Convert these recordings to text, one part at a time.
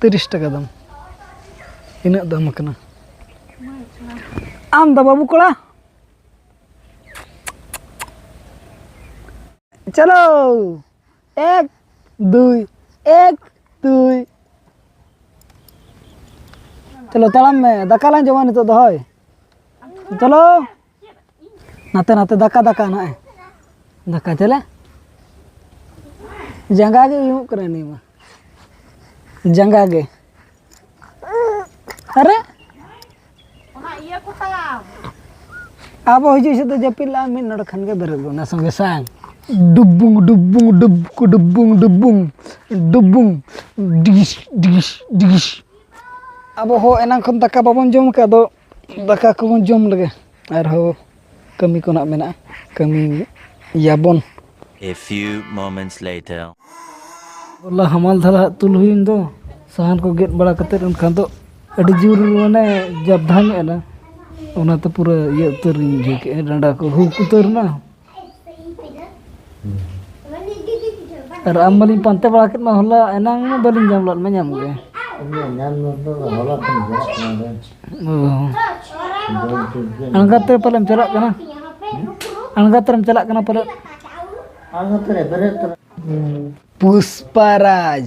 ᱛᱤᱨᱤᱥ ᱴᱟᱠᱟ ᱫᱟᱢ ᱤᱱᱟᱹᱜ ᱫᱟᱢ ᱠᱟᱱᱟ ᱟᱢ ᱫᱚ ᱵᱟᱹᱵᱩ ᱠᱚᱲᱟ ᱪᱚᱞᱚ ᱮᱠ ᱫᱩᱭ ᱮᱠ ᱫᱩᱭ ᱪᱚᱞᱚ ᱛᱟᱲᱟᱢ ᱢᱮ ᱫᱟᱠᱟ ᱞᱟᱝ ᱡᱚᱢᱟ ᱱᱤᱛᱚᱜ ᱫᱚ ᱦᱳᱭ ᱪᱚᱞᱚ ᱱᱟᱛᱮ ᱱᱟᱛᱮ ᱫᱟᱠᱟ ᱫᱟᱠᱟ ᱱᱟᱜ ᱫᱟᱠᱟ ᱪᱮᱞᱮ ᱡᱟᱸᱜᱟ ᱜᱮ ᱩᱭᱩᱜ ᱠᱟᱱᱟ ᱱᱤᱭᱟᱹ ᱢᱟ ᱡᱟᱸᱜᱟ ᱜᱮ ᱟᱨᱮ ᱚᱱᱟ ᱤᱭᱟᱹ ᱠᱚ ᱛᱟᱢ ᱟᱵᱚ ᱦᱤᱡᱩᱜ ᱥᱮᱫ ᱫᱚ ᱡᱟᱹᱯᱤᱫ ᱞᱟᱜᱼᱟ ᱢᱤᱫ ᱱᱚᱰᱮ ᱠᱷᱟᱱ ᱜᱮ ᱵᱮᱨᱮᱫ ᱜᱚᱫ ᱚᱱᱟ ᱥᱚᱸᱜᱮ ᱥᱟᱝ ᱰᱩᱵᱩᱝ ᱰᱩᱵᱩᱝ ᱰᱩᱵᱠ ᱰᱩᱵᱩᱝ ᱰᱩᱵᱩᱝ ᱰᱩᱵᱩᱝ ᱰᱤᱜᱤᱥ ᱰᱤᱜᱤᱥ ᱰᱤᱜᱤᱥ ᱟᱵᱚ ᱦᱚᱸ ᱮᱱᱟᱝ ᱠᱷᱚᱱ ᱫᱟᱠᱟ ᱵᱟᱵᱚᱱ ᱡᱚᱢ ᱠᱟᱜ ᱫᱚ ᱫᱟᱠᱟ ᱠᱚᱵᱚᱱ ᱡᱚᱢ ᱞᱮᱜᱮ ᱟᱨᱦᱚᱸ ᱠᱟᱹᱢᱤ ᱠᱚ ᱱᱟᱦᱟᱜ ᱢᱮᱱᱟᱜᱼᱟ ᱠᱟᱹᱢᱤᱭᱟᱵᱚᱱ A few moments later. ᱦᱚᱞᱟ ᱦᱟᱢᱟᱞ ᱫᱷᱟᱨᱟ ᱦᱟᱸᱜ ᱛᱩᱞ ᱦᱩᱭᱮᱱ ᱫᱚ ᱥᱟᱦᱟᱱ ᱠᱚ ᱜᱮᱫ ᱵᱟᱲᱟ ᱠᱟᱛᱮ ᱮᱱᱠᱷᱟᱱ ᱫᱚ ᱟᱹᱰᱤ ᱡᱳᱨ ᱢᱟᱱᱮ ᱡᱟᱵᱽᱫᱷᱟ ᱧᱚᱜ ᱮᱱᱟ ᱚᱱᱟᱛᱮ ᱯᱩᱨᱟᱹ ᱤᱭᱟᱹ ᱩᱛᱟᱹᱨᱤᱧ ᱵᱩᱡᱷᱟᱹᱣ ᱠᱮᱜᱼᱟ ᱰᱟᱸᱰᱟ ᱠᱚ ᱦᱩᱠ ᱩᱛᱟᱹᱨ ᱮᱱᱟ ᱟᱨ ᱟᱢ ᱢᱟᱞᱤᱧ ᱯᱟᱱᱛᱮ ᱵᱟᱲᱟ ᱠᱮᱫ ᱢᱟ ᱦᱚᱞᱟ ᱮᱱᱟᱝ ᱢᱟ ᱵᱟᱹᱞᱤᱧ ᱧᱟᱢ ᱞᱮᱫ ᱢᱟ ᱧᱟᱢ ᱜᱮ ᱟᱬᱜᱟᱛ ᱨᱮ ᱯᱟᱞᱮᱢ ᱪᱟᱞᱟᱜ ᱠᱟᱱᱟ ᱟᱬᱜᱟᱛ ᱨᱮᱢ ᱪᱟᱞᱟᱜ ᱠᱟᱱᱟ ᱯᱟᱞᱮ ᱯᱩᱥᱯᱟᱨᱟᱡᱽ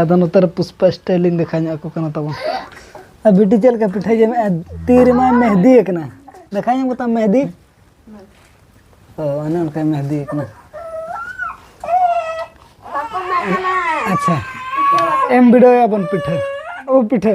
ᱟᱫᱚ ᱱᱚᱛᱮ ᱨᱮ ᱯᱩᱥᱯᱟ ᱥᱴᱟᱭᱤᱞ ᱤᱧ ᱫᱮᱠᱷᱟ ᱧᱚᱜ ᱟᱠᱚ ᱠᱟᱱᱟ ᱛᱟᱵᱚᱱ ᱟᱨ ᱵᱤᱴᱤ ᱪᱮᱫ ᱞᱮᱠᱟ ᱯᱤᱴᱷᱟᱹ ᱡᱚᱢᱮᱜᱼᱟ ᱛᱤ ᱨᱮᱢᱟ ᱢᱮᱦᱫᱤ ᱟᱠᱟᱱᱟ ᱫᱮᱠᱷᱟ ᱧᱟᱢ ᱠᱟᱛᱟᱢ ᱢᱮᱦᱫᱤ ᱚ ᱚᱱᱮ ᱚᱱᱠᱟ ᱢᱮᱦᱫᱤ ᱟᱠᱟᱱᱟ ᱟᱪᱪᱷᱟ ᱮᱢ ᱵᱤᱰᱟᱹᱣ ᱟᱵᱚᱱ ᱯᱤᱴᱷᱟᱹ ᱳ ᱯᱤᱴᱷᱟᱹ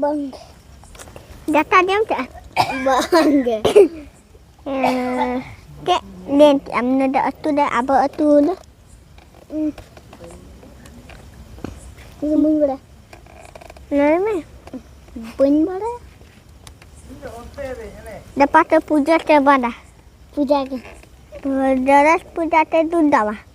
ᱵᱟᱝ ᱫᱟᱠᱟ ᱡᱚᱢ ᱠᱮᱜᱼᱟ ᱵᱟᱝ ᱜᱮ ᱪᱮᱫ ᱞᱟᱹᱭ ᱠᱮᱜᱼᱟᱢ ᱱᱚᱰᱮ ᱟᱹᱛᱩ ᱨᱮ ᱟᱵᱚ ᱟᱹᱛᱩ ᱫᱚ ᱵᱟᱹᱧ ᱵᱟᱲᱟᱭᱟ ᱞᱟᱹᱭ ᱢᱮ ᱵᱟᱹᱧ ᱵᱟᱲᱟᱭᱟ ᱫᱟᱯᱟ ᱛᱮ ᱯᱩᱡᱟᱹ ᱛᱮ ᱵᱟᱫᱟ ᱯᱩᱡᱟ ᱜᱮ ᱡᱚᱨᱚᱥ ᱯᱩᱡᱟ ᱛᱮ ᱫᱩᱫᱟᱣᱟ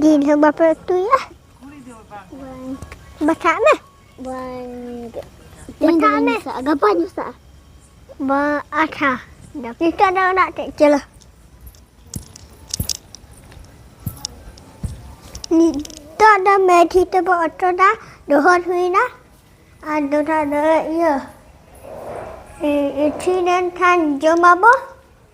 ᱡᱤᱞ ᱦᱚᱸ ᱵᱟᱯᱮ ᱩᱛᱩᱭᱟ ᱵᱟᱪᱷᱟᱜ ᱢᱮ ᱵᱟᱝ ᱛᱮᱦᱮᱧ ᱫᱚ ᱵᱟᱹᱧ ᱢᱮᱥᱟᱜᱼᱟ ᱜᱟᱯᱟ ᱢᱮᱥᱟᱜᱼᱟ ᱵᱟ ᱟᱪᱪᱷᱟ ᱱᱤᱛᱚᱜ ᱫᱚ ᱚᱲᱟᱜ ᱛᱮ ᱪᱚᱞᱚ ᱱᱤᱛᱚᱜ ᱫᱚ ᱢᱮᱰᱷᱤ ᱛᱮᱵᱚ ᱚᱴᱚᱫᱟ ᱰᱚᱦᱚᱨ ᱦᱩᱭᱱᱟ ᱟᱨ ᱫᱚᱦᱲᱟ ᱫᱚ ᱤᱭᱟᱹ ᱤᱥᱤᱱ ᱞᱮᱱᱠᱷᱟᱱ ᱡᱚᱢᱟᱵᱚ